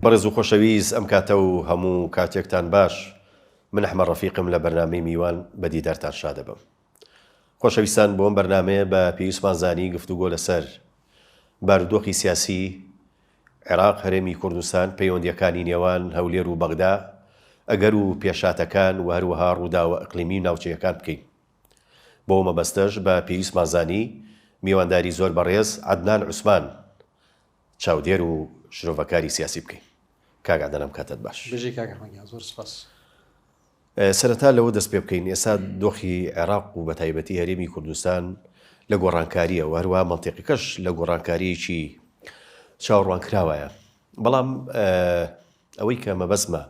بەڕێز و خۆشەویست ئەم کاتە و هەموو کاتێکتان باش من ئەحمە ڕەفیقم لە بەرنامەی میوان بە دیدارتان شادەبم خۆشەویستان بۆم بەرنمەیە بە پێویستمان زانی گفتوگۆ لەسەر بارودۆخی سیاسی عێراق هەرێمی کوردستان پەیوەندیەکانی نێوان هەولێر و بەغدا ئەگەر و پێشاتەکان و هەروەها ڕووداوە ئەقلیمی و ناوچەیەکان بکەین بۆ مەبەستەش بە پێویستمانزانی میوانداری زۆر بەڕێز عدنان عوسمان چاودێر و شرۆڤەکاری سیاسی بکەین کاک عەدەل ئەم کاتەت باش. بژی کاک ئەحمەد گیان زۆر سوپاس. سەرەتا لەوە دەست پێ بکەین ئێستا دۆخی عێراق و بەتایبەتی هەرێمی کوردستان لە گۆڕانکارییە و هەروە مەنتیقەکەش لە گۆڕانکاریەکی چاوەڕوان کراوایە بەڵام ئەوەی کە مەبەسمە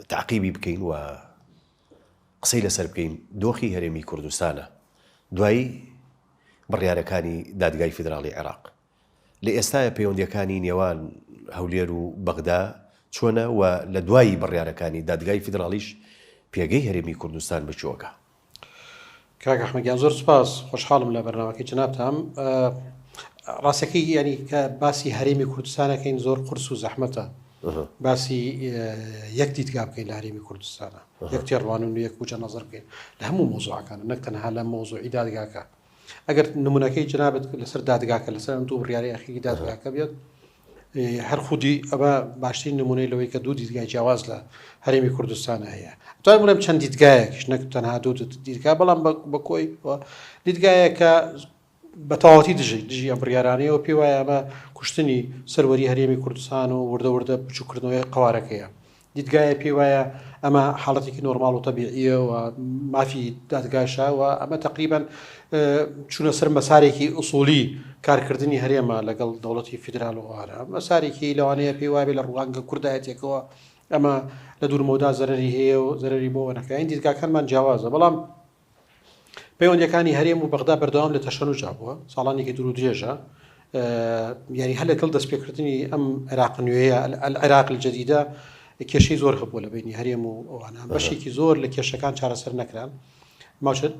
تاقیبی بکەین و قسەی لەسەر بکەین دۆخی هەرێمی کوردستانە دوایی بڕیارەکانی دادگای فیدراڵی عێراق لە ئێستاە پەیوەندیەکانی نێوان هەولێر و بەغدا چۆنە و لە دوایی بڕیارەکانی دادگای فیدراڵیش پێگەی هەرێمی کوردستان بچووەکە کاک ئەحمەد گیان زۆر سپاس خۆشحاڵم لە بەرنامەکەی جنابتان ڕاستەکەی یعنی کە باسی هەرێمی کوردستانەکەین زۆر قرس و زەحمەتە باسی یەک دیدگا بکەین لە هەرێمی کوردستانە یەک تێڕوان و یەک وجە نظر بکەین لە هەموو مۆزوعەکان نەک تەنها لە مۆزوعی دادگاکە ئەگەر نمونونەکەی جنابەت لەسەر دادگاکە لەسەر دوو ڕیاری ئەخیری دادگاکە بێت هەر خودی ئەمە باشترین نمونەی لەوەی کە دوو دیدگای جیاواز لە هەرێمی کوردستان هەیە توای بڵێم چەند دیدگایەکیش نەک تەنها دوو دیدگا بەڵام بە کۆی دیدگایەکە بە تەواوەتی دژی دژی ئەم بڕیارانەیەوە پێ وایە ئەمە کوشتنی سەروەری هەرێمی کوردستان و وردە وردە بچووکردنەوەی قوارەکەیە دیدگایە پێی وایە ئەمە حاڵەتێکی نۆرماڵ و تەبیعییە و مافی دادگاشە و ئەمە تقریبان چونە سەر مەسارێکی ئوسولی کارکردنی هەرێمە لەگەڵ دەوڵەتی فیدرال و ئارا مەسارێکی لەوانەیە پێی وابێ لە ڕوانگە کوردایەتێکەوە ئەمە لە دوورمەودا زەرری هەیە و زەرری بۆ وەنەکەین دیدگاکانمان جیاوازە بەڵام پەیوەندییەکانی هەرێم و بەغدا بەردەوام لە تەشەنوجا بووە ساڵانێکی دوور و درێژە یاری هەر لەگەڵ دەستپێکردنی ئەم عێراق نوێیە عێراق جدیدە کێشەی زۆر هەبووە لە بینی هەرێم و ئەوانە بەشێکی زۆر لە کێشەکان چارەسەر نەکران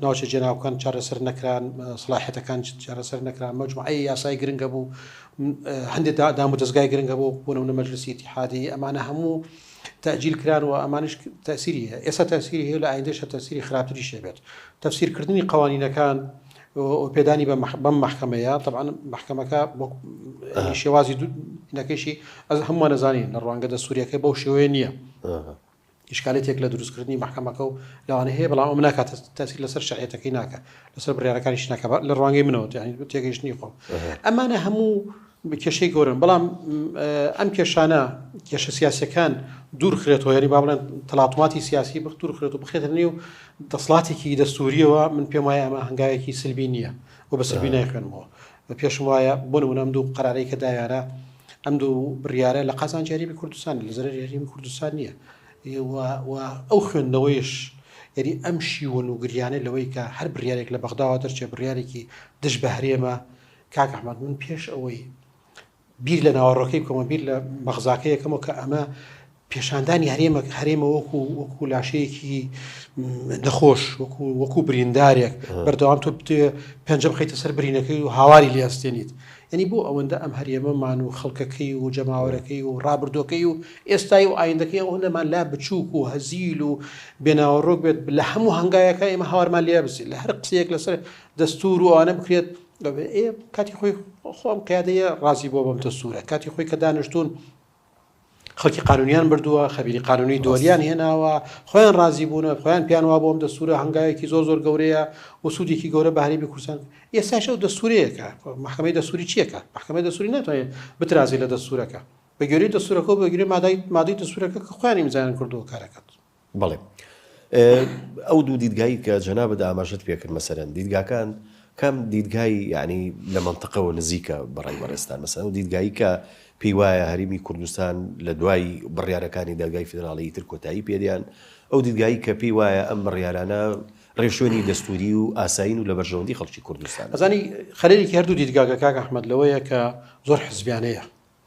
ناوچە جێناوکان چارەسەر نەکران سلاحەتەکان چارەسەر نەکران مەجموعی یاسای گرنگە بوو هەندێک دام و دەستگای گرنگە بۆ بوونەوە مەجلسی تحادی ئەمانە هەموو تەئجیل کران و ئەمانیش تەسیری هەیە ئێستا تەسیری هەیە لە ئایندەشە تەسیری خراپتری شێبێت تەفسیرکردنی قوانینەکان پێدانی بە بەم محکمەیە طبعاان محکمەکە بۆ شێوازی نەکەشی ئەز هەمووان نەزانین لە ڕوانگە دە سووریەکە بەو شێوەیە نییە ئشکالێتێک لە دروستکردنی محکمەکە و لەوانە هەیە بەڵام ئەم ناکات تەسیر لەسەر شعەتەکەی ناکە لەسەر بڕارەکانیش ناکە لە ڕوانگەی منەوە تێگەیشتنی خۆم ئەمانە هەموو کێشەی گەورەن بەڵام ئەم کێشانە کێشە سیاسیەکان دوور خرێتەوە یاری با بڵێن تەلاتوماتی سیاسی بخ دوور خرێت و بخێتە نێو دەسڵاتێکی دەستوریەوە من پێم وایە ئەمە هەنگاوێکی سلبی نییە و بە سلبی نایخوێنمەوە بە پێشم وایە بۆ نمونەم دوو قەرارەی کە داوێرە ئەم دوو بڕیارە لە قازان جاریبی کوردستان لە زەرەر هەرێمی کوردستان نییە ئەو خوێندنەوەیش یعنی ئەم شیوە و گریانە لەوەی کە هەر بریارێک لە بەغداوە دەرچێ بڕارێکی دژ بە هەرێمە کاک احمد من پێش ئەوەی بیر لە ناوەڕۆکەی بکەمە بیر لە بەغزاکە یەکەمەوە کە ئەمە پێشاندانی هەرێمە هەرێمە وەکو وەکو لاشەیەکی نەخۆش وەکو وەکو بریندارێک بەردەوام تۆ پێنج بخیتە سەر برینەکەی و هاواری لێستێنیت ینی بۆ ئەوەندە ئەم هەرێمەمان و خەڵکەکەی و جەماوەەکەی و ڕابردۆکەی و ئێستای و ئایندەکەی ئەو نەمان لا بچووک و هەزیل و بێناوەڕۆک بێت لە هەموو هەنگایەکە ئێمە هاوارمان لێ بزیێت لە هەر قسەیەک لەسەر دەستور و ئەوانە بکرێت دەڵێ ئێ کاتی خۆی خۆ ئەم قیادەیە ڕازی بووە بەم دەستوورە، کاتی خۆی کە دانیشتوون خەڵکی قانونیان بردووە خەبیری قانونی دۆلیان هێناوە خۆیان ڕازی بوونە خۆیان پیان وا بۆم دەسوورە هەنگاوێکی زۆر زۆر گەورەیە و سوودێکی گەورە بە هەرێمی کوردستان ئێساش ئەو دەسوورەیەەکە محکمەی دەسووری چیەکە محکمەی دەسووری ناتوانێت بترازی لە دەسوورەکە بەگوێری دەسوورەکە بەگوێ مادای مادەی دەسوورەکە کە خۆیان ئیمزایان کردووە کارەکەت بەڵێ ئەو دوو دیدگایی کە جەنابت ئاماژەت پێ کرد مەسەرەن دیدگاکان کام دیدگای یعنی لە مەنتەقەوە نزیکە بەڕای بەڕێزتان مەسەن و دیدگایی کە پێی وایە هەرمی کوردستان لە دوای بڕیارەکانی دادگای فیدراڵی تر کۆتایی پێدیان ئەو دیدگایی کە پێی وایە ئەم بڕیارانە ڕێشوێنی دەستوری و ئاسایین و لە بەرژەوەندی خەڵکی کوردستان ئەزانی خەرێکی هەردوو دیدگاگە کاک ئەحمد لەوەیە کە زۆر حزبیانەیە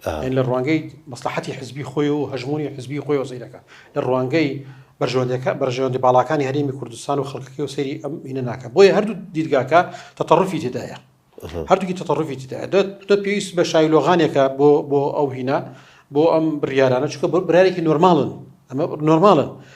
یانی لە ڕوانگەی مەسڵەحەتی حزبی خۆی و هەژموونی حزبی خۆی و سەیرەکە لە ڕوانگەی بەرژەوەندەکە بەرژەوەندی باڵاکانی هەرێمی کوردستان و خەڵکەکەی و سەیری ئەم مینە ناکە بۆیە هەردوو دیدگاکە تەتەڕفی تێدایە هەردووکی تەتەڕفی تێدایە دەت پێویست بە شایلۆغانێکە بۆ بۆ ئەو هینە بۆ ئەم بڕیارانە چکە بۆ برارێکی نۆرماڵن ئەمە نۆرماڵن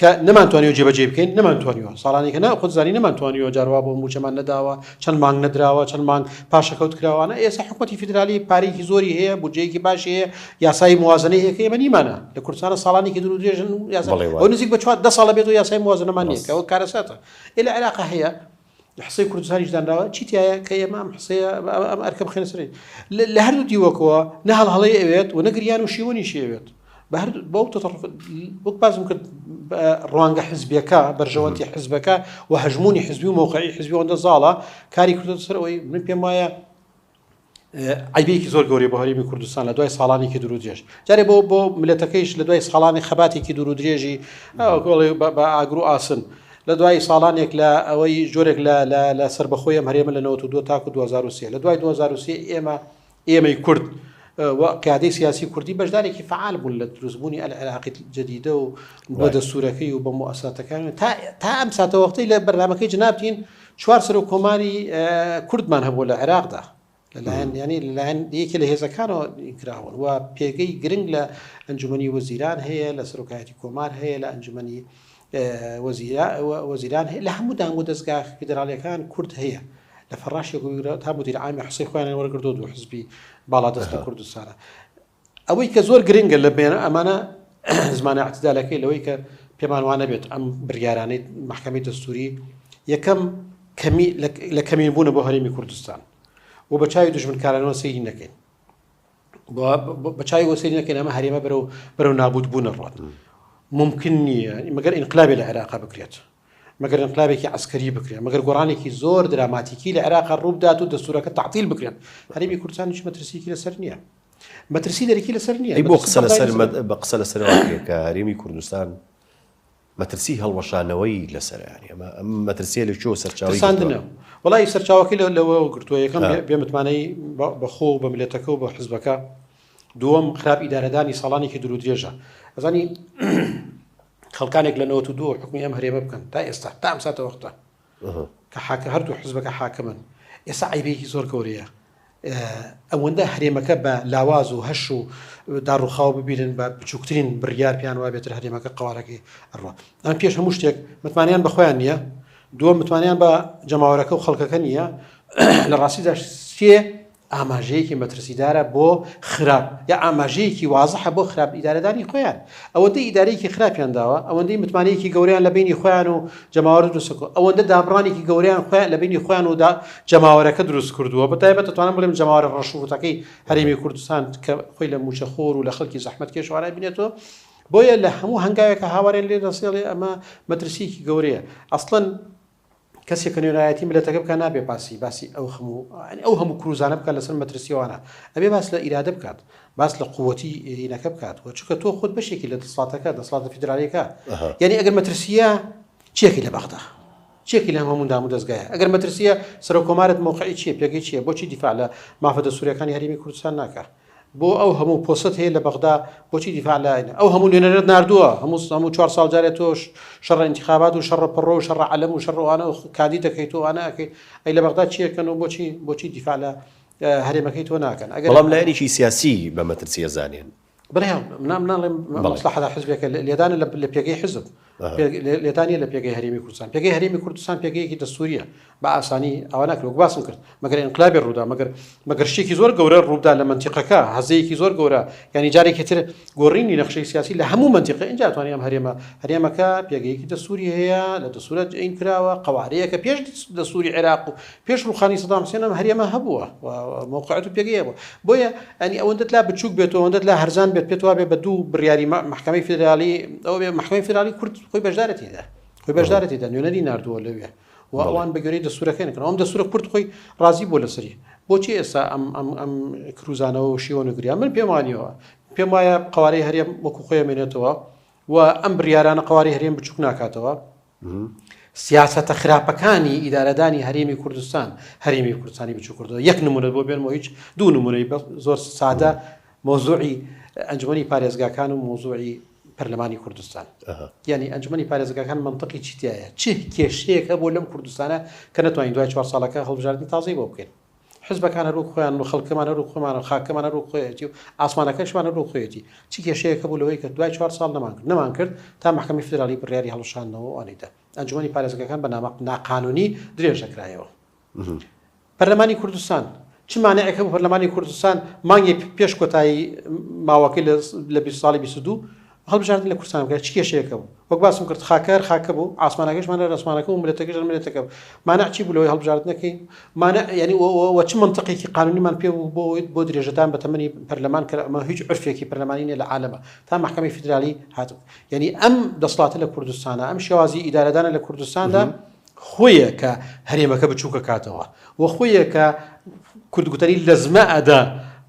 کە نەمان توانیوە جێبەجێی بکەین نەمان توانیوە ساڵانێکە نا خود زانی نەمان توانیوە جاروا بۆ موچەمان نەداوە چەند مانگ نەدراوە چەند مانگ پاشەکەوت کراوانە ئێستا حکوومەتتی فیدرالی پارێکی زۆری هەیە بودجەیەکی باشی هەیە یاسایی موازنەی هەیە کە ئێمە نیمانە لە کوردستانە ساڵانێکی دوور و درێژن و یاسا بەڵێ و بەڵێ نزیک بە چوار دە ساڵە بێت و یاسای موازنەمان نییە ڕاست کە ئەوە کارەساتە ئێ لە عێراق هەیە حصەی کوردستانیش دانراوە چی تایە کە ئێمە ئەم حسەیە ئەم ئەرکە بخێنە سەری لە هەردوو دیوەکەوە نە هەڵهڵەی ئەوێت و نەگریان و شیوەنی شێوێت بە هەر بەو تەطرف وەک بازم کرد ڕوانگە حزبەکە بەرژەوەندی حزبەکە و هەژمونی حزبی و مووقعی حزبیەوەندە زاڵە کاری کردو سەر ئەوی من پێم وایە عیبێکی زۆر گەوری بە هەرمی کوردستان لە دوای ساڵانێکی دوور درێژ جارێ بۆ بۆ ملەتەکەیش لە دوای ساڵانی خەباتێکی دوور درێژی گۆڵی بە ئاگرو ئاسن لە دوای ساڵانێک لە ئەوەی جۆرێک لە لە سربەخۆیە هەرێمە لە 92 تاکو 2023 لە دوای 2023 ئێمە ئێمەی کورد قیادی سیاسی کوردی بەشدارێکی فعال بوون لە دروستبوونی ئەل عێراقی جدیدە و بۆ دەسوورەکەی و بە موساتەکان تا تا ئەم ساتە وەختی لە بەرنمەکەی جنابتین چوار سەرۆک کۆماری کوردمان هەبووە لە عێراقدا لەلایەن یانی لەلایەن یەکێ لە هێزەکانەوە کراون و پێگەی گرنگ لە ئەنجومی وەزیران هەیە لە سەرۆکایەتی کۆمار هەیە لە ئەنجومی وەزیران هەیە لە هەموو دام و دەستگا فیدراالەکان کورد هەیە لە فەڕاشێک تا مدیر عامی حسی خۆیان وەرگردو دوو حزبی باڵا دەست لە کوردستانە ئەوەی کە زۆر گرنگە لە بێنە ئەمانە زمانە اعتدالەکەی لەوەی کە پێمان وانە بێت ئەم بریارانەی محکەمی دەستوری یەکەم کەمی لە کەمین بوونە بۆ هەرێمی کوردستان و بە چاوی دژمنکارانەوە سەیری نەکەین بە چاوی وەسەری نەکەین ئەمە هەرێمە بەرەو بەرەو نابوت بوونە ڕات ممکن نییە مەگەر ئینقلابی لە عێراقا بکرێت مەگەر انقلابێکی عسکەری بکرێن مەگەر گۆڕانێکی زۆر دراماتیکی لە عێراق ڕووبدات و دەستورەکە تعتیل بکرێن هەرمی کوردستانیش مەترسیکی لەسەر نییە مەترسی دەرەکی لەسەر نییە بۆ قسە لەسەر بە قسە لەسەر کە هەرێمی کوردستان مەترسی هەڵوەشانەوەی لەسەر ئەمە ئەم مەترسیە لە چۆ سەرچاوی ساندنە وڵی سەرچاوەکەی لە لەوە گرتووە یەکەم بێمتمانەی بەخۆ بە ملەتەکە و بە حزبەکە دووەم خراپ ئیدارەدانی ساڵانێکی درو درێژە ئەزانی خەڵکانێک لە 92 حکومی ئەم هەرێمە بکەن تا ئێستا تا ئەم ساتە وەختە کە حاکم هەردوو حزبەکە حاکمن ئێستا عیبێکی زۆر گەورەیە ئەوەندە هەرێمەکە بە لاواز و هەش و داڕوخاو ببیرن بە بچووکترین بڕیار پێیان وا بێتتر هەرێمەکە قوارەکەی ئەڕوە ئەم پێش هەموو شتێک متمانیان بەخۆیان نییە دووە متمانیان بە جەماوەرەکە و خەڵکەکە نییە لە ڕاستیدا سێ ئاماژەیەکی مەترسیدارە بۆ خراپ یا ئاماژەیەکی وازحە بۆ خراپ ئیدارەدانی خۆیان ئەوەندەی ئیدارەیەکی خراپیان داوە ئەوەندەی متمانەیەکی گەورەیان لە بینی خۆیان و جەماوەر دروستکۆ ئەوەندە دابڕانێکی گەوریان خۆیان لە بینی خۆیان ودا جەماوەرەکە دروست کردووە بە تایبەت توانم بڵێم جەماوەرە ڕەشوڕوتەکەی هەرێمی کوردستان کە خۆی لە موچە خۆر و لە خەڵکی زەحمەت کێشوانای بینێتەوە بۆیە لە هەموو هەنگاوێکە هاوارێن لێ دەسێڵێ ئەمە مەترسیکی گەورەیە ئەسڵەن کەسێک کە نوێنەرایەتی میلەتەکە بکات نابێ باسی باسی ئەو هەموو یانی ئەو هەموو کروزانە بکات لەسەر مەترسیەوانە ئەبێ باس لە ئیرادە بکات باس لە قووەتی ئینەکە بکات و چونکە تۆ خۆت بەشێکی لە دەسڵاتەکە دەسڵاتە فیدرالیەکە ئەها یعنی ئەگەر مەترسیە چێکی لە بەغدا چێکی لە هەموو دام و دەستگایە ئەگەر مەترسیە سەرۆک کۆمارت مۆقعی چیە پێگەی چیە بۆچی دیفاع لە مافە دەستووریەکانی هەرێمی کوردستان ناکات بۆ ئەو هەموو پۆستەت هەیە لە بەغدا بۆچی دیفاع لە ئاینە ئەو هەموو نوێنەرت ناردووە هەموو هەموو چوار ساڵ جارێ تۆ شەڕە ئینتیخابات و شەڕە پەڕۆ و شەڕە عەلەم و شەڕ و ئانە و کاندید دەکەیت و ئانە ئەکەیت ئەی لە بەغدا چی ئەکەن و بۆچی بۆچی دیفاع لە هەرێمەکەی تۆ ناکەن ئەگەر بەڵام لایەنێکی سیاسی بە مەترسی ئەزانێن برای من ناڵێم بەڵێ. مەسڵەحەتە حزبێکە لێدانە لە لە پێگەی حزب لێدان نیە لە پێگەی هەرێمی کوردستان پێگەی هەرێمی کوردستان پێگەیەکی دەستوریە بە ئاسانی ئەوە ناکرێت باسم کرد مەگەر انقلابی ڕوودا مەگەر مەگەر شتێکی زۆر گەورە ڕوودا لە منتیقەکە هەزەیەکی زۆر گەورە ینی جارێکی تر گۆڕینی نەخشەی سیاسی لە هەموو منتیقە اینجا توانانی ئەم هەرێمە هەرێمەکە پێگەیەکی دەستوری هەیە لە دەسوورەت ئەین کراوە قوارەیەکە پێش دەسووری عێراق و پێش ڕوخانی سەدام حسێن ئەم هەرێمە هەبووە و موقعەت و پێگەیە بوو بۆیە ئەنی ئەوەندەت لا بچوک بێت و ئەوەندەت لا هەرزان بێت پێت وابێ بە دوو بڕیاری محکمەی فدرالی ئەو بێ محکمەی فدرالی کورد خۆی بەشدارەتیدا خۆی بەشدارەتیدا نوێنەری نردووە لەوێ و ئەوان بە گوێرەی دەسوورەکەن کردن ئەم دەسوورە کورد خۆی ڕازی بۆ لەسەری بۆچی ئێستا ئەم ئەم ئەم کروزانەوە و شیوە نگریا من پێم وانیەوە پێم وایە قوارەی هەرێم وەکو خۆیمێنێتەوە و ئەم بریارانە قواری هەرێم بچوک ناکاتەوە سیاسەتە خراپەکانی ئیدارەدانی هەرێمی کوردستان هەرێمی کوردستانی بچوو کردەوە یەک نمونەت بۆ بێنمەوە هیچ دوو نمونەی بە زۆر سادە مۆزوعی ئەنجومی پارێزگاکان و مۆزوعی پەرلەمانی کوردستان یعنی ئەنجومی پارێزگاکان منطقی چیتیایە چه کێشەیەک هەبوو لەم کوردستانە کە نتوانین دوای چوار ساڵەکە هەڵبژاردننی تازەی بۆ بکەین حزبەکان هەر وەک خۆیانن و خەڵکەمان هەر وەک خۆمان و خاکەمان هەر وەک خۆیەتی و ئاسمانەکەشمان هەر وەک خۆیەتی، چ کێشەیەک هەبوو لەوەی کە دوای چوار ساڵ نەمانکرد؟ نەمانکرد تا مەحکەمەی فیدراڵی بڕیاری هەڵوەشاندنەوە و ئەوانی دا. ئەنجومەنی پارێزگەکان بە نامە ناقانوونی درێژ دەکرایەوە. پەرلەمانی کوردستان، چ مانعێک هەبوو پەرلەمانی کوردستان مانگێک پێش کۆتایی ماوەکەی لە بیست ساڵی بیست و دوو هەڵبژاردن لە کورتسانبکە چ کێشەیەکە بوو؟ وەک باسم کرد خاکە هەر خاکە بوو، عاسمانەکەشمان هەر ئاسمانەکە بوو، ملەتەکەش هەر ملەتەکە بوو. مانع چی بوو لەوەی هەڵبژاردن نەکەین؟ مانع یانی و و و چ مەنتقێکی قانونیمان پێ بوو بۆ بۆ درێژەدان بە تەمەنی پەرلەمان کە ئەمە هیچ عورفێکی پەرلەمانی نیە لە عالەمە تا مەحکەمەی فیدرالی هاتبوو. یانی ئەم دەسڵاتە لە کوردستانە، ئەم شێوازی ئیدارەدانە لە کوردستاندا. خۆیە کە هەرێمەکە بچووکە کاتەوە و خۆیە کە کورد گوتەری لەزمە ئەدا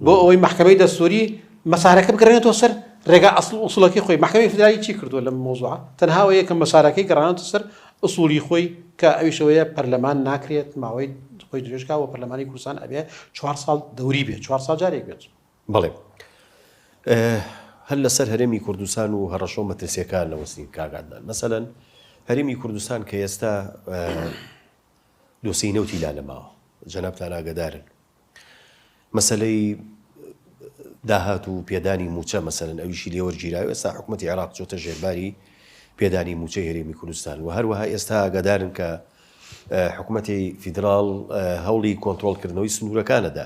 بۆ ئەوەی محکمەی دەستوری مەسارەکە بگەڕێنێتەوە سەر ڕێگا ئەسڵ ئوسڵەکەی خۆی محکمەی فدرالی چی کردووە لەم مۆزوع تەنها ئەوەیە کە مەسارەکەی گەڕانەوە سەر ئوسولی خۆی کە ئەویشەوەیە پەرلەمان ناکرێت ماوەی خۆی درێژکا و پەرلەمانی کوردستان ئەبێ چوار ساڵ دەوری بێت چوار ساڵ جارێک بێت بەڵێ هەر لەسەر هەرێمی کوردستان و هەڕەشە و مەترسیەکان نەوەستین کاگادان مەسەەن هەرێمی کوردستان کە ئێستا دۆسی نەوتی لا لەماوە جەنابتان ئاگدارن مەسلەی داهات و پێدانی موچە مەسەن ئەویشی لێوەرگیراوە ئێستا حکوومەت عێراق چۆتە ژێرباری پێدانی موچە هەرێمی کوردستان و هەروەها ئێستا ئاگادارن کە حکوومەتی فیدرال هەوڵی کۆنتترۆلکردنەوەی سنوورەکانەدا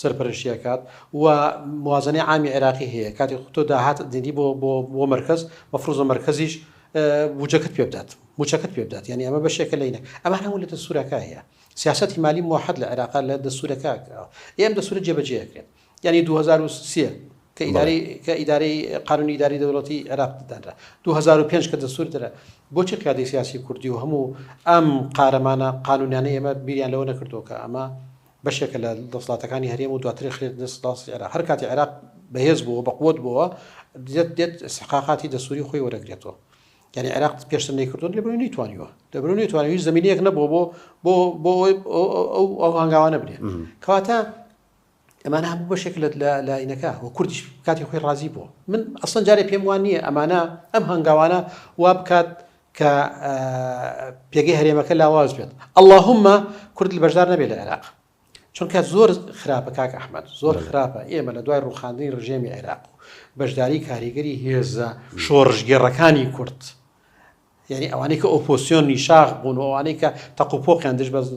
سەرپەرشتی ئەکات و موازەنەی عامی عێراقی هەیە کاتێک تۆ داهات دیدی بۆ بۆ بۆ مەرکەز مەفروزە مەرکەزیش بوجەکەت پێ بدات موچەکەت پێ بدات یعنی ئەمە بەشێکە لەینە ئەمە هەموو لە دەسوورەکە هەیە سیاستی مالی موحد لە عێراق لە دەسوورەکە ئێم دەسوورە جێبەجێکرێت یعنی 2023 کە ئیداری کە ئیداری قانونی ئیداری دەوڵەتی عێراق دانرا 2005 کە دەسوور درا بۆچی قیادی سیاسی کوردی و هەموو ئەم قارەمانە قانونیانە ئێمە بیریان لەوە نەکردووە کە ئەمە بەشێکە لە دەسڵاتەکانی هەرێم و دواتر ئەخرێتە دەست سوپاسی عێراق، هەر کاتێ عێراق بەهێز بۆوە بەقوەت بۆوە دێت دێت ئیستحقاقاتی دەستوری خۆی وەرەگرێتەوە یانی عێراق پێشتر نەیکردوون لەبەرو نەیتوانیوە لەبەرو نەیتوانێت هیچ زمینەیەک نەبووە بۆ بۆ بۆ ئەو هەنگاوانە بنێت کەواتە ئەمانە هەموو بەشێک لە لاینەکە و کوردیش کاتی خۆی ڕازی بوو من ئەسڵەن جارێ پێم وان نییە ئەمانە ئەم هەنگاوانە وا بکات کە پێگەی هەرێمەکە لاواز بێت اللهومە کورد لە بەشدار نەبێت لە عێراق چونکە زۆر خراپە کاک ئەحمد زۆر خراپە ئێمە لە دوای ڕوخاندنی ڕژێمی عێراق و بەشداری کاریگەری هێزە شۆڕژگێڕەکانی کورد یعنی ئەوانەی کە ئۆپۆسیۆن نیشاخ بوون ئەوانەی کە تەقوپۆقیان دژ بەز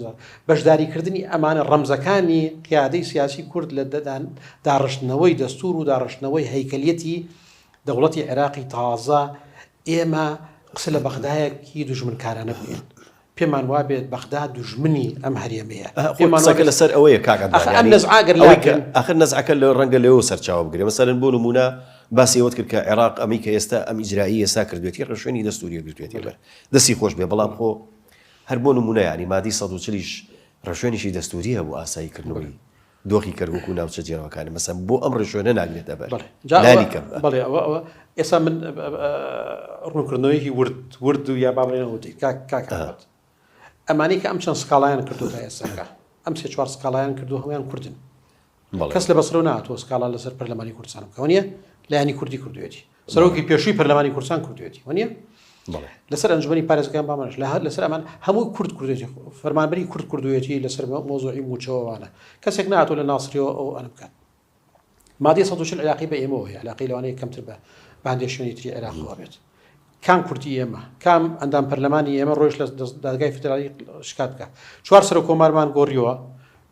بەشداریکردنی ئەمانە ڕەمزەکانی قیادەی سیاسی کورد لە دەدان داڕشتنەوەی دەستور و داڕشتنەوەی هەیکەلیەتی دەوڵەتی عێراقی تازە ئێمە قسە لە بەغدایەکی دوژمنکارانە بووین پێمان وابێت بەغدا دوژمنی ئەم هەرێمەیە قسەکە لەسەر ئەوەیە کاکەئەخر نەزعەکە لە ڕەنگە لەەوە سەرچاوە بگرێ مەسەرن بۆ نمونە باسیەوەت کرد کە عێراق ئەمی کە ئێستا ئەم ئیجرایی ئێستا کردوێتی ڕشوێنی دەستوریە گرتوێتی بەر دەستی خۆش بێ بەڵام خۆ هەر بۆ نمونە ینی مادی 140 ڕشوێنیشی دەستوریە بۆ ئاسایی کردنەوەی دۆخی کەرکوک و ناوچە جیاوەکانە مەسەن بۆ ئەم ڕێشۆنە ناگرێتە بەر بەڵێ ئەوە ئەوە ئێستا من ڕوونکردنەوەیکی ورد ورد و یا بابرێنە وتی کاکات ئەمانی کە ئەم چەند سکاڵیان کردو تا ئێساکە ئەم سێ چوار سکاڵیان کردو هەمیان کوردن کەس لە بەسرە ناتۆ سکاڵا لەسەر پەرلەمانی کوردستانم کەونیە لایانی کوردی کردوێتی سەرۆکی پێشووی پەرلەمانی کوردستان کوردێتی و نیە لەسەر ئەنجومی پارێزگان بامانش لە هەر لەسەر ئەمان هەموو کورد کوردێتی فەرمانبری کورد کوردوێتی لەسەر مۆزۆی موچەوەوانە کەسێک ناتۆ لە ناسریەوە ئەو ئەن بکات مادی سە عراقی بە ئێمەوە هەیە عراقی لەوانەیە کەمتر بە باندێ شوێنی تری عێراقەوە بێت کام کورتی ئێمە کام ئەندام پەرلەمانی ئێمە ڕۆژ لە دادگای فدرالی شکات بکە چوار سەر کۆمارمان گۆڕیەوە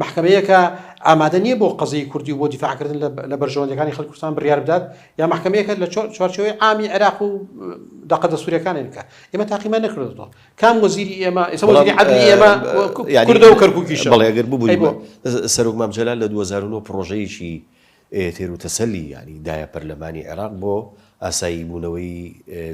مەحکەمەیەکە ئامادە نییە بۆ قەزیەی کوردی و بۆ دیفاعکردن لە بەرژەوەندەکانی خەڵکی کوردستان بڕیار بدات یا مەحکەمەیەکە لە چوارچەوەی عامی عێراق و دەقە دەستوورەکانی بکە ئێمە تاقیمان نەکردەوە کام وەزیری ئێمە ئێمە کوردە و کەرکووکیش بەڵێگەر ببووی سەرۆک مامجللا لە 2009 پرۆژەیەکی تێر و تەسەلی ینی دایە پەرلەمانی عێراق بۆ ئاسایی بوونەوەی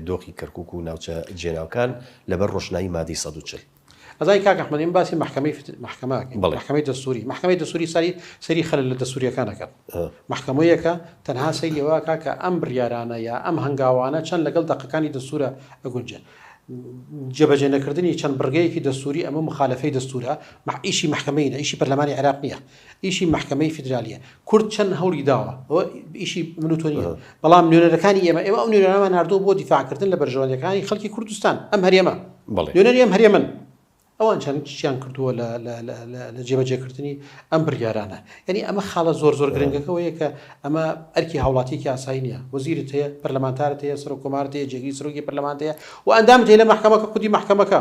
دۆخی کەرکک و ناوچە جێناوکان لەبەر ڕۆشنایی مادەی 140 ئەزای کاک ئەحمەد ئێمە باسی مەحکەمەی فت- محکمە ئەکەین. بەڵێ. محکمەی دەستوری محکمەی دەستوری سەری سەری خەل لە دەستوریەکانەکەن محکمەیەکە تەنها سەیری ئەوەکە کە ئەم بڕیارانە یا ئەم هەنگاوانە چەند لەگەڵ دەقەکانی دەستورە ئەگونجێن جێبەجێ نەکردنی چەند بڕگەیەکی دەستوری ئەمە مخالفەی دەستورە مح- ئیشی محکمەی نە ئیشی پەرلەمانی عێراق نییە ئیشی مەحکەمەی فیدرالیە کورد چەند هەوڵی داوە ئەوە ئیشی من و تۆ نیە بەڵام نوێنەرەکانی ئێمە ئێمە ئەو نوێنەرەمان ناردووە بۆ دیفاعکردن لە بەرژەوەندەکانی خەڵکی کوردستان ئەم هەرێمە بەڵێ نوێنەری ئەم هەرێمن ئەوان چەند چیان کردووە لە لە- لە- لە- لە جێبەجێکردنی ئەم بڕیارانە یعنی ئەمە خاڵە زۆر زۆر گرنگەکەەوەیە کە ئەمە ئەرکی هاوڵاتیکی ئاسایی نیە وەزیرت هەیە پەرلەمانتارت هەیە سەرۆک کۆمارت هەیە جێگری سەرۆکی پەرلەمانت هەیە و ئەندامت هەیە لە مەحکەمەکە خودی مەحکەمەکە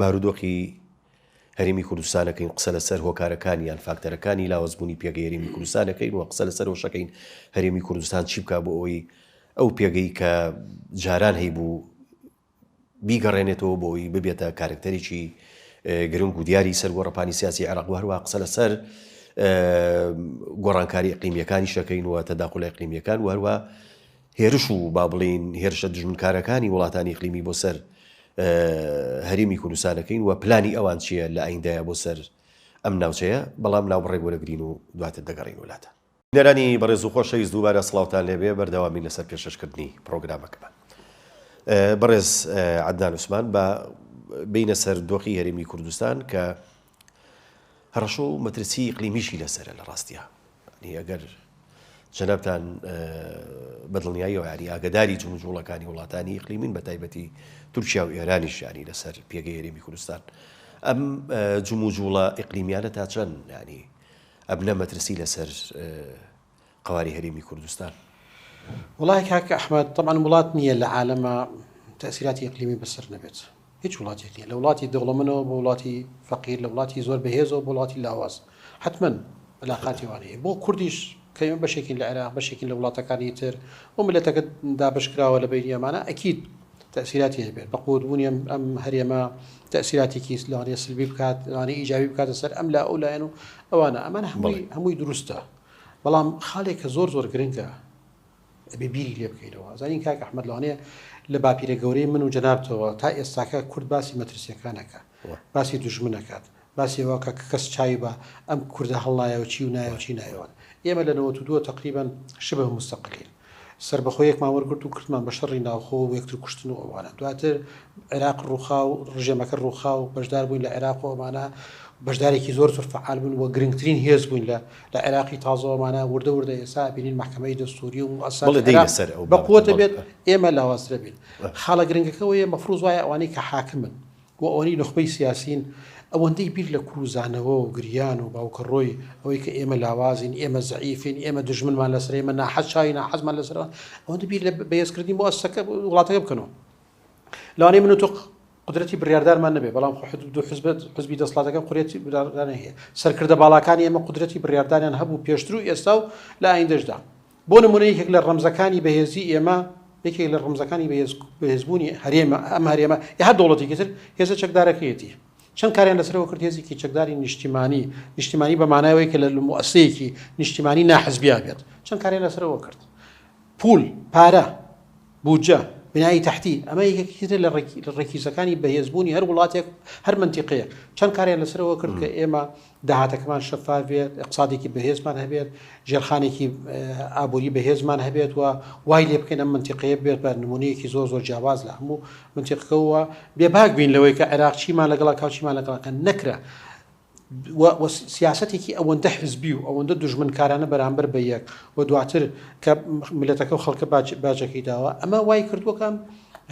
بارودۆخی هەرێمی کوردستان دەکەین، قسە لەسەر هۆکارەکانی یان فاکتەرەکانی لاوازبوونی پێگەی هەرێمی کوردستان دەکەین و قسە لەسەر ئەوەش دەکەین هەرێمی کوردستان چی بکات بۆ ئەوەی ئەو پێگەی کە جاران هەیبوو بیگەڕێنێتەوە بۆ ئەوی ببێتە کارکتەرێکی گرنگ و دیاری سەر گۆڕەپانی سیاسی عێراق و هەروە قسە لەسەر گۆڕانکاری قیمیەکانی شەکەین و تەداخلە قیمیەکان و هەروە هێرش و با بڵێین هێرشە دوژمنکارەکانی وڵاتانی ئیقلیمی بۆ سەر هەرێمی کوردستانەکەین و پلانی ئەوان چییە لە ئایندایە بۆ سەر ئەم ناوچەیە بەڵام ناوبڕێک وەرەگرین و دواتر دەگەڕێین وەلاتان. بینەرانی بەڕێز و خۆشەویست دووبارە سڵاوتان لێبێ بەردەوامین لەسەر پێشەشکردنی پڕۆگرامەکەمان بەڕێز عەدنان عوسمان با بینە سەر دۆخی هەرێمی کوردستان کە هەڕەشە و مەترسی ئیقلیمیشی لەسەرە لە ڕاستیا. یانی ئەگەر جەنابتان بە دڵنیاییەوە یانی ئاگەداری جموجوڵەکانی وڵاتانی ئیقلیمین بە تایبەتی تورکیا و ئێرانیش یانی لەسەر پێگەی هەرێمی کوردستان ئەم جموجوڵە ئیقلیمیانە تا چەند یانی ئەبنە مەترسی لەسەر قواری هەرێمی کوردستان وڵای کاکە ئەحمد طبعا وڵات نییە لە عالەمە تەسیراتی ئەقلیمی بەسەر نەبێت هیچ وڵاتێک نیە لە وڵاتی دەوڵەمەنەوە بۆ وڵاتی فەقیر لە وڵاتی زۆر بەهێزەوە بۆ وڵاتی لاواز حتمەن علاقاتی وانە هەیە بۆ کوردیش کە ئێمە بەشێکین لە عێراق بەشێکین لە وڵاتەکانی تر و ملەتەکە دابشکراوە لە بینی ئەمانە ئەکیید تەسیراتی هەبێت بە قوتبوونی ئەم ئەم هەرێمە تەسیراتێکی لەوانەیە سلبی بکات لەوانەیە ئیجابی بکاتە سەر ئەم لا ئەو لایەن و ئەوانە ئەمان هەمووی هەمووی دروستە بەڵام خاڵێکە زۆر زۆر گرنگە ئەبێ بیری لێ بکەینەوە ئەزانین کاک ئەحمەد لەوانەیە لە باپیرە گەورەی من و جەنابتەوە تا ئێستاکە کورد باسی مەترسیەکانەکە باسی دژمنەکات باسیەوە کە کەس چاوی بە ئەم کوردە هەڵنایە و چی و نایە و چی نایەوە ئێمە لە 92 تقریبان شبه مستەقلین سربەخۆیەکمان وەرگرت و کردمان بە شەڕی ناوخۆ و یەکتر کوشتن و ئەوانە دواتر عێراق ڕووخا و ڕژێمەکە ڕووخا و بەشدار بووین لە عێراق و ئەمانە بەشدارێکی زۆر زۆر فعال بوون و گرنگترین هێز بووین لە لە عێراقی تازەوەمانە وردە وردە ئێسا ئەبینین مەحکەمەی دەستووری و موئەسساتی عێراق بەقوەتە بێت، ئێمە لاوازترە بین. خاڵە گرنگەکە ئەوەیە مەفروز وایە ئەوانەی کە حاکمن و ئەوانەی نوخبەی سیاسین ئەوەندەی بیر لە کور و زانەوە و گریان و باوکەڕۆی ئەوەی کە ئێمە لاوازین، ئێمە زەعیفین، ئێمە دوژمنمان لەسەرە، ئێمە ناحەز چاوی ناحەزمان لەسەرە، ئەوەندە بیر لە بەهێزکردنی موئەسسەکە وڵاتەکە بکەنەوە لەوانەیە من و تۆ قودرەتی بڕیاردانمان نەبێت، بەڵام خۆ حزب دوو حزب حزبی دەسڵاتەکە قورێتی بڕیاردان هەیە. سەرکردە باڵاکانی ئێمە قودرەتی بڕیاردانیان هەبوو پێشتر و ئێستا و لە ئایندەشدا. بۆ نموونە یەکێک لە ڕەمزەکانی بەهێزی ئێمە، یەکێک لە ڕەمزەکانی بەهێز بەهێزبوونی هەرێمە، ئەم هەرێمە یا هەر دەوڵەتێکی تر هێزە چەکدارەکەیەتی. چەند کاریان لەسەرەوە کرد هێزێکی چەکداری نیشتیمانی، نیشتیمانی بە مانای ئەوەی کە لە موئەسەیەکی نیشتیمانی ناحزبیا بێت، چەند کاریان لەسەرەوە کرد. پوول، پارە. بودجە، بنای تەحتی، ئەمە یەکێکی ترە لە ڕیکیزەکانی بەهێزبوونی هەر وڵاتێک و هەر مەنتیقەیەک، چەند کاریان لەسەر ئەوە کرد کە ئێمە داهاتەکەمان شەفاف بێت، ئیقتسادێکی بەهێزمان هەبێت، ژێرخانێکی ئابووری بەهێزمان هەبێت و وای لێ بکەین ئەم مەنتیقەیە ببێت بە نموونەیەکی زۆر زۆر جیاواز لە هەموو مەنتیقەکە و بێباک بین لەوەی کە عێراق چیمان لەگەڵ ئەکا و چیمان لەگەڵ ئەکەن، نەکرا. و و سیاسەتێکی ئەوەندە حزبی و ئەوەندە دوژمنکارانە بەرامبەر بە یەک و دواتر کە ملەتەکە و خەڵکە باجەکەی داوە ئەمە وای کردووەکەم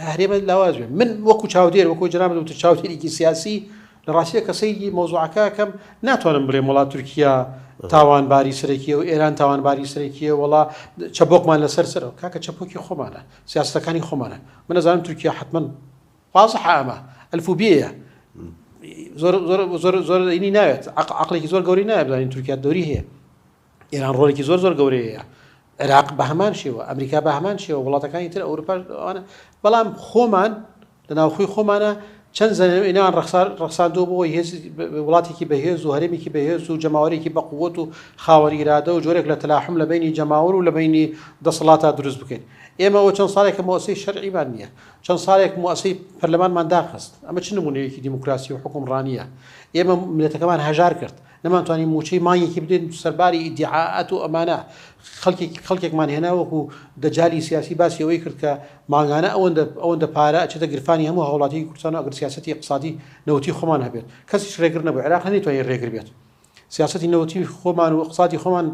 هەرێمە لاواز بێ من وەکو چاودێر وەکو جرام دوتر چاوتێکی سیاسی لە ڕاستە کە سەیری مۆزوعەکەکەم ناتوانم بڵێم وڵات تورکیا تاوانباری سەرەکیە و ئێران تاوانباری سەرەکیە وڵا چەبکمان لەسەر سەرەوە کاکە چەپۆکی خۆمانە سیاستەکانی خۆمانە منەزانم تورکیا حتمما واضح ئەمە الف و بێیە زۆر زۆر زۆر زۆر اینی ناوێت عقلێکی زۆر گەوری نایە بزانین تورکیا دەوری هەیە ئێران ڕۆلێکی زۆر زۆر گەورەیە عێراق بە هەمان شێوە ئەمریکا بە هەمان شێوە وڵاتەکانی تر ئەوروپاش ئەوانە بەڵام خۆمان لە ناوخۆی خۆمانە چەند زەنەوەینان ڕخسار ڕخساندۆ بۆ هێز وڵاتێکی بەهێز و هەرێمێکی بەهێز و جەماوەرێکی بەقووت و خاوەریرادە و جۆرێک لە تەلاحم لە بینی جەماور و لە بینی دەسەڵاتا دروست بکەین ئێمەەوە چەند ساڵێکە مۆسی شەرعیمان نییە چەند ساڵێک موئەسەی پەرلەمانمان داخست، ئەمە چ نموونەیەکی دیموکراسی و حوکمڕانییە؟ ئێمە ملەتەکەمان هەژار کرد، نەمانتوانی مووچەی مانگێکی بدەین، سەرباری ئیدیعائات و ئەمانە خەڵکێکی خەڵکێکمان هێنا وەکو دەجالی سیاسی باسی ئەوەی کرد کە مانگانە ئەوەندە ئەوەندە پارە ئەچێتە گرفانی هەموو هاوڵاتییەکی کوردستان و ئەگەر سیاسەتی ئیقتسادی نەوتی خۆمان هەبێت کەسیش رێگر نەبوو، عێراق نەیتوانی رێگر بێت. سیاسەتی نەوتی خۆمان و اقتصادی خۆمان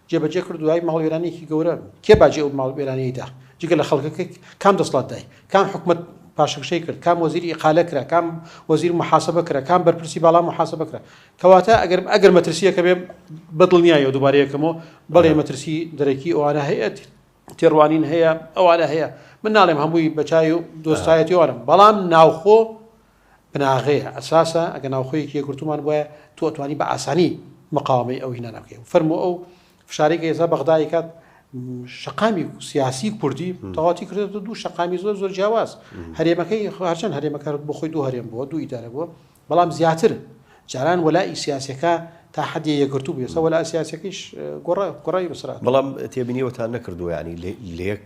جێبەجێ کرد دوای ماڵوێرانێکی گەورە کێ باجی ئەو ماڵوێرانەیدا جگە لە خەڵکەکە کام دەسڵات دای کام حکومت پاشەکشەی کرد کام وەزیری ئقالە کرا کام وەزیر محاسبە کرا کام بەرپرسی باڵا محاسبە کرا کەواتە ئەگەر ئەگەر مەترسیەکە بێ بەدڵنیایە دووبارەیەکەمەوە بەڵێ مەترسی دەرەکی ئەوانە هەیە تێڕوانین هەیە ئەوانە هەیە من ناڵێم هەمووی بەچای و دۆستایەتیوانم بەڵام ناوخۆ بناغەیە، ئەساسە، ئەگەر ناوخۆیەکی یەکگرتوومان بوایە تۆ ئەتوانی بە ئاسانی مقاوەمەی ئەو هینانە بکەی و فەرموو ئەو فشارەی کە ئێستا بەغدا ئەیکات شەقامی سیاسی کوردی تەواتی کردێتە دوو شەقامی زۆر زۆر جیاواز هەرێمەکەی هەرچەند هەرێمەکارت بۆ خۆی دوو هەرێم بووە دوو ئیدارە بووە بەڵام زیاتر جاران وەلائی سیاسەکە تا حدی یەکگرتو بێسە وەلا سیاسەکەیش گۆڕای گۆڕای بسرات بەڵام تێبینیەوەتان نەکردووە ینی لەک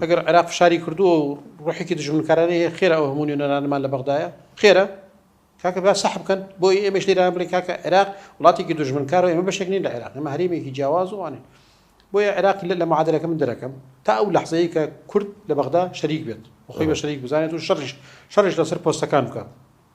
ئەگەر عێراق فشاری کردووە و ڕۆحێکی دژمنکارانەی هەیە، خێرە ئەو هەموو نوێنەرانەمان لە بەغدایە؟ خێرە؟ کاکە با سەح بکەن، بۆ ئەی ئێمەش لێرانە بڵێن کاکە عێراق وڵاتێکی دژمنکارە و ئێمە بەشێک نین لە عێراق، ئێمە هەرێمێکی جیاواز و ئەوانین. بۆیە عێراق لە معادەلەکە من دەرەکەم تا ئەو لەحزەیە کە کورد لە بەغدا شەریک بێت و خۆی بە شەریک بزانێت و شەڕیش شەڕیش لەسەر پۆستەکان بکات.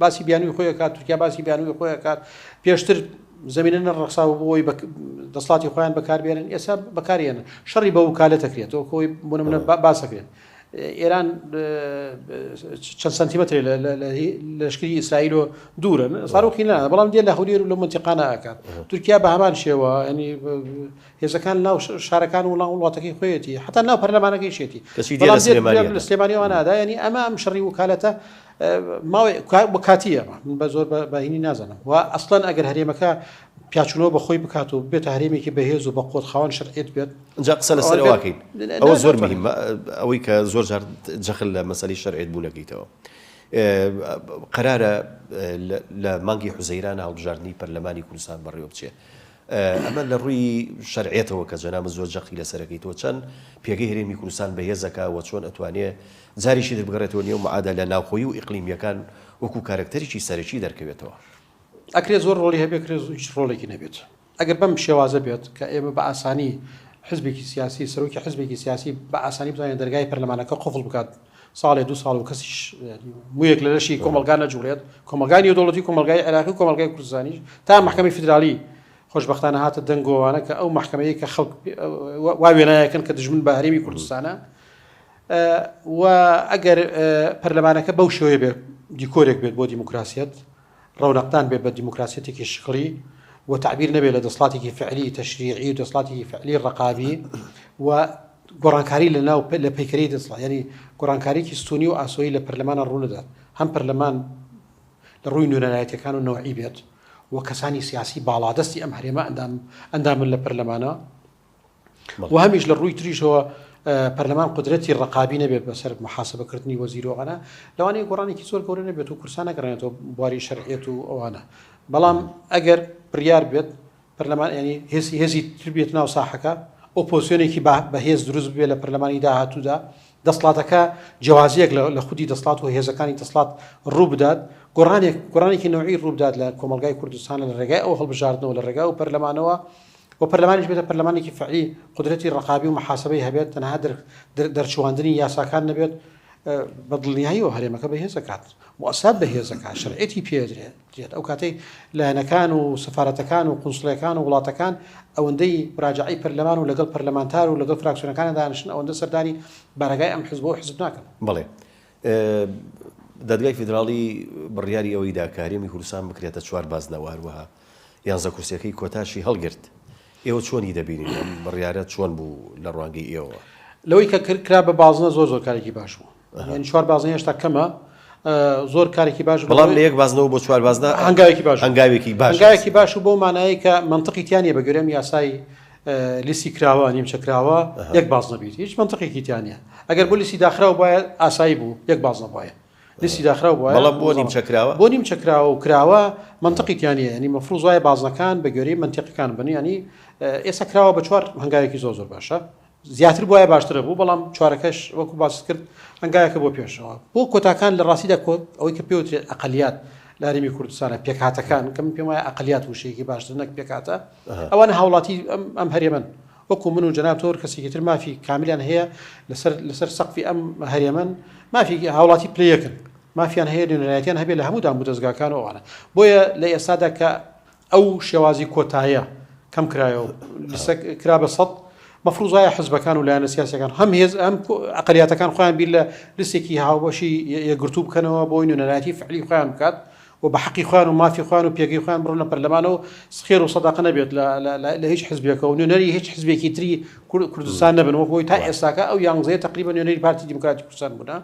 باسی بیانوی خۆی کات تورکیا باسی بیانوی خۆی کات پێشتر زمینە نەڕخساوە بۆی دەسڵاتی خۆیان بەکاربێنن ئێستا بەکارێنن شەڕی بە وکالە دەکرێتەوە خۆی بۆنمە باسەکرێت ئێران چەند سنتیمەتری لەشکری ئیسرائیل و دوورن ساروخی نا بەڵام دێ لە هەولێر و لە منتیقانە ئەکات تورکیا بە هەمان شێوە ینی هێزەکان ناو شارەکان وڵام وڵاتەکەی خۆیەتی حتا ناو پەرلەمانەکەی شێتی سلێمانیوان نادا ینی ئەمە ئەم شەڕی وکالەتە ماوەی بۆ کاتی ئەمە من بە زۆر بەهینی نازانم و ئەسڵەن ئەگەر هەرێمەکە پیاچونەوە بەخۆی بکات و بێتە هەرێمێکی بەهێز و بە قۆت خاوەن شەرعێت بێت جا قسە لە سەرواکەین ئەوە زۆر مهم ئەوەی کە زۆر جار جەخل لە مەسەی شەرعێت بوونەکەیتەوە قەرارە لە مانگی حوزەیران هەڵبژاردننی پەرلەمانی کوردستان بەڕێوە بچێت ئەمە لە ڕووی شەرعێتەوە کە جەنابت زۆر جەقی لەسەرەکەی تۆ چەن پێگەی هەرێمی کوردستان بەهێزەکە وە چۆن ئەتوانێ جاریکی تر بگەڕێتەوە نێو معادالە ناوخۆی و ئیقلیمیەکان وەکو کارەکتەریکی سەرەکی دەرکەوێتەوە؟ ئەکرێت زۆر ڕۆڵی هەبێت ئەکرێت هیچ ڕۆڵێکی نەبێت ئەگەر بەم شێوازە بێت کە ئێمە بە ئاسانی حزبێکی سیاسی سەرۆکی حزبێکی سیاسی بە ئاسانی بزانێت دەرگای پەرلەمانەکە قفڵ بکات ساڵێ دوو ساڵ و کەسیش مویەک لە لەشی کۆمەلگا نەجوڵێت کۆمەلگای نێودوڵەتی کۆمەلگای عێراقی و کۆمەلگای کوردستانی تا محکمەی فیدرالی خۆشببختانە هاتە دەنگۆوانە کە ئەو محکمەیە کە خەڵک وا وێنایەکەن کە دژمن بە هەرێمی کوردستانە و ئەگەر پەرلەمانەکە بەو شێوەیە بێت دیکۆرێک بێت بۆ دیموکراسیت ڕەونەقدان بێت بە دیموکراسیەتێکی شکڵی و تەعبیر نەبێت لە دەسڵاتێکی فعلی تەشریعی و دەسڵاتێکی فعلی ڕقابی و گۆڕانکاری لە ناو لە پەیکەری دەسڵات ینی گۆڕانکاریی سونی و ئاسۆی لە پەرلەمانە ڕوونەدات هەم پەرلەمان لە ڕووی نوێنەرایەتەکان و نەوەی بێت و کەسانی سیاسی باڵادەستی ئەم هەرێمە ئەندام ئەندامن لە پەرلەمانە و هەمیش لە ڕووی تریشەوە پەرلەمان قدرەتی ڕقابی نەبێت بەسەر محاسبەکردنی وەزیرۆغەە لەوانەیە گۆڕانێکی زۆر گەورە نەبێت و کورسانە گەڕێنێتەوە بواری شەرعێت و ئەوانە بەڵام ئەگەر بڕیار بێت پەرلەمان ینی هێسی هێزی تربێت ناو ساحەکە ئۆپۆسیۆنێکی بەهێز دروست بێت لە پەرلەمانی داهاتوودا دەسڵاتەکە جیازیەک لە خودی دەسڵات و هێزەکانی دەسڵات ڕوو بدات گۆڕانێک گۆڕانێکی نەوەی ڕووبدات لە کۆمەلگای کوردستانە لە ڕێگای ئەو هەڵبژاردنەوە لە ڕێگای و پەرلەمانەوە و پەرلەمانیش بێتە پەرلەمانێکی فەعلی قودرەتی ڕەقابی و محاسبەی هەبێت تەنها دەرچواندنی یاساکان نەبێت بە دڵنیایی و هەرێمەکە بەهێزەکات موسات بەهێزەکان شەرعەتی پێدرێت ئەو کاتەی لایەنەکان و سفاەتەکان و قنسڵەکان و وڵاتەکان ئەوەندەی ڕاجعی پەرلەمان و لەگەڵ پەرلەمانتار و لەگەڵ فراکسیۆنەکان دانشن ئەوەندە سەردانی بارگای ئەم حزب و حزب ناکەن بڵێ دادگای فیدراڵی بڕیاری ئەوەی داکارێمی کوردستان بکرێتە چوار بازنەوە هەروەها یانزە کورسیەکەی کۆتاشی هەڵگرت، ئێوە چۆنی دەبینین ئەم بڕیارە چۆن بوو لە ڕوانگەی ئێوەوە؟ لەوەی کە کرد کرا بە بازنە زۆر زۆر کارێکی باش بوو یعنی چوار بازنە هێشتا کەمە زۆر کارێکی باش بوو. بەڵام لە یەک بازنەوە بۆ چوار بازنە هەنگاوێکی باش هەنگاوێکی باش هەنگاوێکی باش و بۆ مانایی کە منطقی تیا نییە بەگوێرەی ئەم یاسای لیستی کراوە نیمچە کراوە یەک بازنە بیت هیچ منطقێکی تیا نییە ئەگەر بۆ لیستی داخراو بایە ئاسایی بوو یەک بازنە بایە لیستی داخراو بوایە بەڵام بۆ نیمچە کراوە؟ بۆ نیمچە کراوە و کراوە مەنتقی تیا نیە یانی مەفروز وایە بازنەکان بە گوێرەی مەنتیقەکان بن ینی ئێستا کراوە بە چوار هەنگاوێکی زۆر زۆر باشە زیاتر بواە باشترە بوو بەڵام چوارەکەش وەکو باست کرد هەنگایەکە بۆ پێشەوە بۆ کۆتاکان لە ڕاستیدا کۆت ئەوەی کە پێوترێت ئەقلیات لەریمی کوردستانە پێکهاتەکان کەم پێم وایە ئەقلیات وشەیەکی باشتر نەک پێکاتە ئەوان هاوڵاتی ئەم هەرێمن وەکو من و جەناب تۆ کەسێکی تر مافی کاملیان هەیە لەسەر لەسەر سەقفی ئەم هەرێمەن مافی هاوڵاتی پلە یەکن مافیان هەیە نوێنەرایەتیان هەبێت لە هەموو دام و دەزگاکان و ئەوانە بۆیە لە ئێستادا کە ئەو شێوازی کۆتایە کەم کرایەوە لسە کرا بە سەد مەفروزایە حزبەکان و لایەنە سیاسەکان هەم هێز ئەم ئەقلیاتەکان خۆیان بیر لە لسێکی هاوبەشی یەگرتوو بکەنەوە بۆی نوێنەرایەتی فعلی خۆیان بکات و بە حەقی خۆیان و مافی خۆیان و پێگەی خۆیان بڕۆنە پەرلەمان و خێر و سەدەقە نەبێت لە هیچ حزبێکە و نوێنەری هیچ حزبێکی تری کوردستان نەبن وەک بۆی تا ئێستاکە ئەو یانزەیە تقریبا نوێنەری پارتی دیموکراتی کوردستان بوونە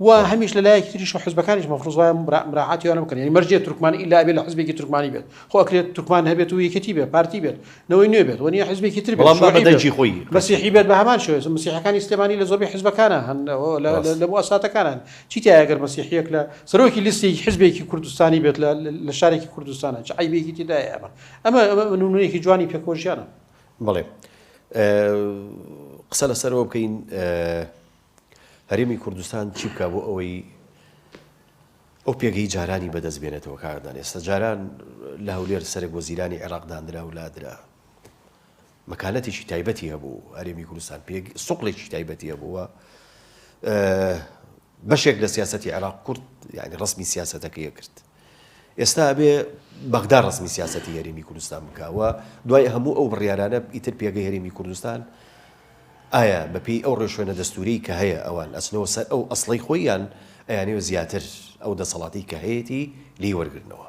و هەمیش لە لایەکی تریش و حزبەکانیش مەفرز وایە مراعاتیانە بکەن یعنی مەرجێ تورکمان ئیلا بێت لە حزبێکی تورکمانی بێت خۆ ئەکرێت تورکمان هەبێت و یەکێتی بێت پارتی بێت نەوەی نوێ بێت وەنیە حزبێکی تر بەڵامدەجی خۆی مەسیحی بێت بە هەمان شوێز مسیحەکانی سلێمانی لە زۆربەی حزبەکانە هەن لە بۆ ئەساتەکانن چی تیایە گەر مەسیحیەک لە سەرۆکی لیستی حزبێکی کوردستانی بێت لە شارێکی کوردستانە چ عیبێکی تێدایە ئەمە ئەمە نمونەیەکی جوانی پێکۆژیانە بڵێ قسە لەسەرەوە بکەین هەرێمی کوردستان چی بکە بۆ ئەوەی ئەو پێگەی جارانی بەدەست بێنێتەوە کاردان ئێستا جاران لە هەولێر سەرێک وەزیرانی عێراق دانرا و لادرا مەکانەتێکی تایبەتی هەبوو هەرێمی کوردستان پێ سوقلێکی تایبەتی هەبووە بەشێک لە سیاستی عێراق کورد یعنی ڕسمی سیاستەکەی کرد ئێستا بێ بەغدا ڕسمی سیاستی هەرێمی کوردستان بکەوە دوای هەموو ئەو بڕیارانە ئیتر پێگەی هەرێمی کوردستان ئایا بەپی ئەو ڕێشوێنە دەستوری کە هەیە ئەوان ئەسنەوە سەر ئەو ئەسڵی خۆیان ئەیانەوە زیاتر ئەو دەسەڵاتی کە هەیەی لی وەرگرنەوە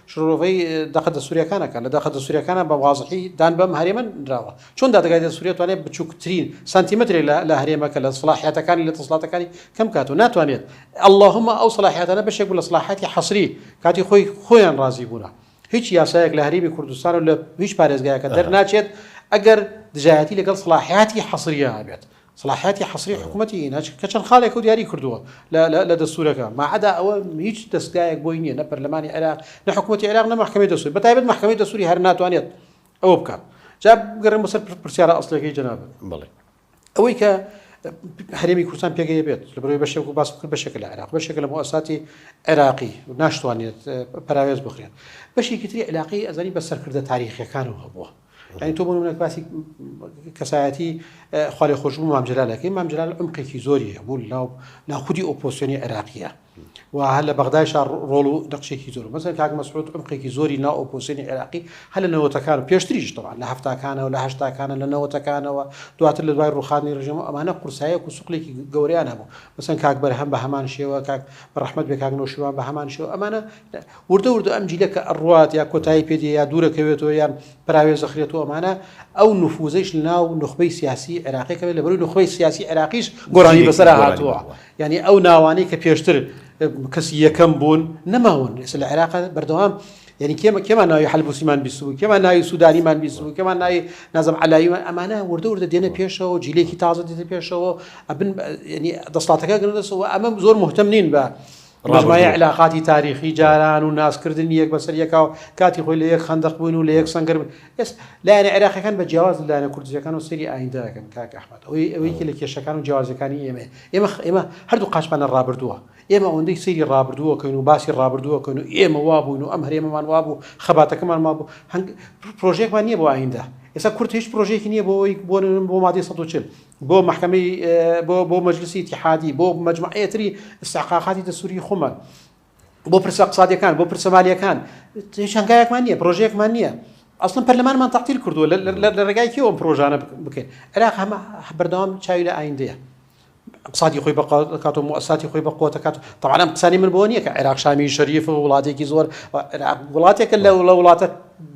شرۆڤەی دەقە دەستوریەکان ئەکات، لە دەقە دەستوریەکانا بە وازحی دان بەم هەرێمە نراوە، چۆن دادگای دەستوری ئەتوانێت بچوکترین سانتیمەترێک لە لە هەرێمەکە لە سڵاحیاتەکانی لە دەسڵاتەکانی کەم بکاتەوە ناتوانێت اللهم ئەو سڵاحیاتانە بەشێک بوو لە سڵاحیاتی حەسری کاتی خۆی خۆیان ڕازی بوونە هیچ یاسایەک لە هەرێمی کوردستان و لە هیچ پارێزگایەکە دەرناچێت ئەگەر دژایەتی لەگەڵ سڵاحیاتی حەسریە هەبێت سەڵاحیاتی حەسری حکومەتی هینا چ کە چەند خاڵێکە و دیاری کردووە لە لە لە دەستوورەکە ما عەدا ئەوە هیچ دەستگایەک بۆی نییە نە پەرلەمانی عێراق نە حکومەتی عێراق نە مەحکەمەی دەستوور بە تایبەت مەحکەمەی دەستووری هەر ناتوانێت ئەوە بکات جا بگەڕێم بەسەر پر- پرسیارە ئەسڵیەکەی جەنابت بەڵێ ئەوەی کە هەرێمی کوردستان پێگەیە بێت لە بەرەوەی بەشێک و باس کرد بەشێکە لە عێراق بەشێکە لە مؤسساتی عێراقی و ناشتوانێت اه، پەراوێز بخرێت بەشێکی تری عێراقی ئەزانی بە سەرکردە تاریخیەکانەوە هەبووە یانی تۆ بۆ نمونە باسی کەسایەتی خوا لێ خۆشبوو مام جەلال دەکەی مام جەلال عمقێکی زۆری هەیە بۆ لاو نا خودی ئۆپۆسیۆنی عێراقیە و هەر لە بەغدای شار ڕۆڵ و نەخشێکی زۆر مەسەر کاک مەسعود عمقێکی زۆری نا ئۆپۆسیۆنی عێراقی هەر لە نەوەتەکان و پێشتریش تەوان لە هەفتاکانەوە لە هەشتاکانە لە نەوەتەکانەوە دواتر لە دوای ڕوخانی ڕژێم و ئەمانە قورسایەک و سوقلێکی گەوریان هەبوو مەسەن کاک بەرهەم بە هەمان شێوە کاک بە ڕحمد بێ کاک نەوشیوان بە هەمان شێوە ئەمانە وردە وردە ئەم جیلە کە ئەڕوات یا کۆتایی پێ دێ یا دوورەکەوێتەوە یان پەراوێز دەخرێت و ئەمانە، ئەو نفوزەیش لە ناو نوخبەی سیاسی عێراقی کەمە، لە بەرووی نوخبەی سیاسی عێراقیش گۆڕانی بەسەرا هاتووە، یانی ئەو ناوانەی کە پێشتر کەسی یەکەم بوون نەماون، ئێستا لە عێراقا بەردەوام یانی کێمە کێمان ناوی حەلبوسیمان بیست بوو، کێمان ناوی سوودانیمان بیست بوو، کێمان ناوی نازم عەلاییمان، ئەمانە وردە وردە دێنە پێشەوە، جیلێکی تازە دێتە پێشەوە، ئەبن یانی دەسەڵاتەکە گرنگە سەوە، ئەمە زۆر موهتەم نین بە ڕابردوو. مجمعی علاقاتی تاریخی جاران و نازکردنی یەک بەسەر یەکا و کاتی خۆی لە یەک خەندەق بووین و لە یەک سەنگەر بووین. ئێس لایەنە عێراقیەکان بە جیاواز لە لایەنە کوردستیەکانەوە سەیری ئایندە دەکەن کاک ئەحمەد. ئەوەی ئەوە یەکێ لە کێشەکان و جیاوازیەکانی ئێمەیە. ئێمە خ ئێمە هەردوو قاچمانە ڕابردووە. ئێمە ئەوەندەی سەیری ڕابردوو ئەکەین و باسی ڕابردوو ئەکەین و ئێمە وا بووین و ئەم هەرێمەمان وا بوو، خەباتەکەمان وا بوو، هەنگ پڕۆژەیەکمان نییە بۆ ئایندە. ئێستا کورد هیچ پڕۆژەیەکی نییە بۆ ئەوەی بۆ نمونە بۆ مادەی سەد و چل. بۆ مەحکەمەی بۆ بۆ مەجلسی تحادی بۆ مەجموعەتری استحقاقاتی دەسووری خۆمان بۆ پرسە قسادەکان بۆ پرسە مالیەکان هەنگایەکمان نییە پرۆژەیەکمان نییە ئەسڵم پەرلەمانمان تاقیل کردووە لە ڕێگای کێ ئەم پرۆژانە بکەین عێراق هەمە بەردەوام چاوی لە ئایندەیە قسادی خۆی بەقاتۆ موساتی خۆی بە قوتەکات تاوانم قسانی من بۆ نییە کە عێراق شامی شەریف و وڵاتێکی زۆر وڵاتێکە لە وڵە وڵاتە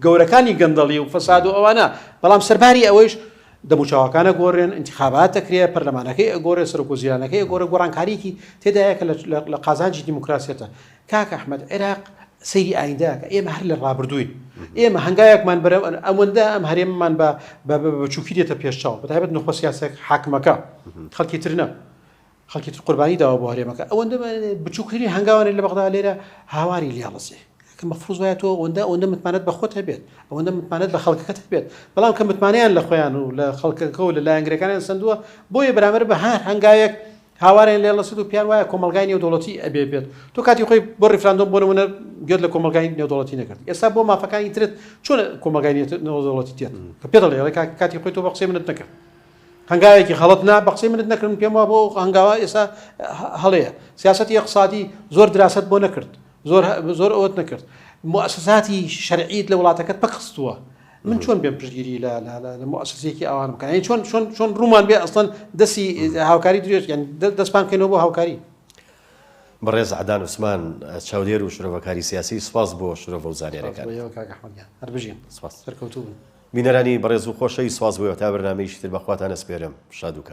گەورەکانی گەندەڵی و فەساد و ئەوانە بەڵام سەرباری ئەوەیش دەموچاوەکان ئەگۆرێن، ئینتیخابات ئەکرێ، پەرلەمانەکەی ئەگۆرێ، سەرۆک وەزیرانەکەی ئەگۆرێ، گۆڕانکاریەکی تێدایە کە لە قازانجی دیموکراسیەتە. کاک ئەحمەد عێراق سەیری ئایندە ئەکا، ئێمە هەر لە ڕابردووین. ئێمە هەنگاوێکمان بەرە ئەوەندە ئەم هەرێمەمان بە بچووکی دێتە پێش چاو، بەتایبەت نوخبە سیاسیە حاکمەکە، خەڵکی تر نا. خەڵکی تر قوربانی داوە بۆ هەرێمەکە ئەوەندە بچوکترین هەنگاوانێ لە بەغدا لێرە هاواری لێڵەسێ کە مەفروز وایە تۆ ئەوەندە ئەوەندە متمانەت بە خۆت هەبێت ئەوەندە متمانەت بە خەڵکەکەت هەبێت بەڵام کە متمانەیان لە خۆیان و لە خەڵکەکە و لە لایەنگرەکانیان سندووە بۆیە بەرامبەر بە هەر هەنگاوێک هاوارێن لێ لەسد و پیان وایە کۆمەلگای نێودوڵەتی ئەبێ بێت تۆ کاتی خۆی بۆ ریفراندۆم بۆ نمونە گوێت لە کۆمەلگای نێودوڵەتی نەکرد ئێستا بۆ مافەکانی ترت چۆن کۆمەلگای نێودوڵەتی تێت کە پێ دەڵێ کاتی خۆی تۆ بە قسەی منت نەکرد هەنگاوێکی غەڵەت نا بەقسەی منت نەکردم پێم وابوو ئەو هەنگاوە ئێستا هەڵەیە سیاسەتی ئێقسادی زۆر دراست بۆ نەکرد زۆر زۆر ئەوت نەکرد موسساتی شەرعیت لە وڵاتەکەت پەکخستووە من چۆن بێم پشگیری لە لە موسسێکی ئەوان بکەن چۆن چۆن چۆن ڕوومان بێ ئەسڵەن دەسی هاوکاری درێژ یان دەستپان کەینەوە بۆ هاوکاری بەڕێز عدان عوسمان چاودێر و شرۆڤەکاری سیاسی سپاس بۆ شرۆڤە و زانێرەکان هەر بژین سپاس سەرکەوتوو بن بینەرانی بەڕێزو خۆشەویست سوپاس بۆ ئێوە تا بەرنامەیەکی تر بەخواتان ئەسپێرم شادو کام.